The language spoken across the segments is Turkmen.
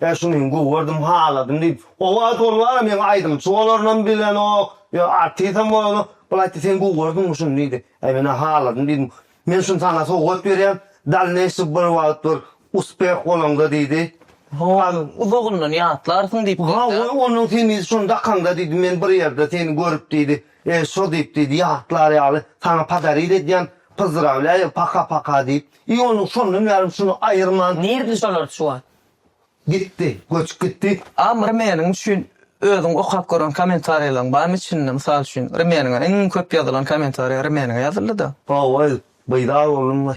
Ýa şuny men gögerdym, haladym diýip, owaz ol wara meň aýdymçy bolarynam bilenok, ýa artisam bolanok, ol aýtdy, sen gögerdiňmi şuny diýdi. Äý men-ä haladym diýdim. Men şuny saňa sowgat berýän, dalneýşy bir wagt bir uspeh bolaňda diýdi. Howa, uzagyndan ýatlarsyň diýip Ha, geldi-ä. goý, onnoň sen diýdi, şuny dakaňda diýdi, men bir ýerde seni görüp diýdi, e, şo diýip diýdi, ýatlar ýaly, saňa podarit edýän, pyzdrawlýaýa, paka-paka diýip. I onuň şondan bärim şuny aýyrman. Nirde şolar şu wagt? Gitdi, göçüp gitdi. Am rmeniň üçin özüň okap gören komentariýalaryň barmy içinde mysal üçin rmeniňe iň köp ýazylan komentariýa rmeniňe ýazyldyda. Hawa beýdar boldum we.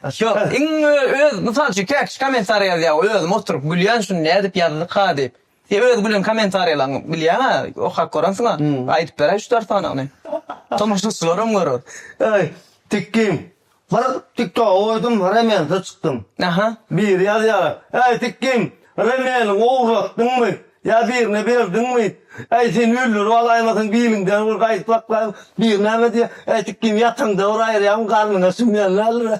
Ýok iň öz mysal üçin käkiçi komentariýa ýazýa we özüm oturyp gülýän şuny nädip ýazdyka diýip. Sen öz gülen kommentariýalaryňy bilýäňä okap görensiňä aýdyp beräý üç dört sanyny. Tomaşaçylaram görer. Eý Tikgin bir tiktoga goýdum remensiz çykdym. Aha. Biri ýazýar Äý Tikgin remeniňi ogurlatdyňmy ýa birine berdiňmi äý seni öldürip alaýmasyn biliňden bir gaýdyp saklaýyn biri näme diýýär Äý Tikgin ýataňda bir aýyrýaryn garnyňa sümýän däldir.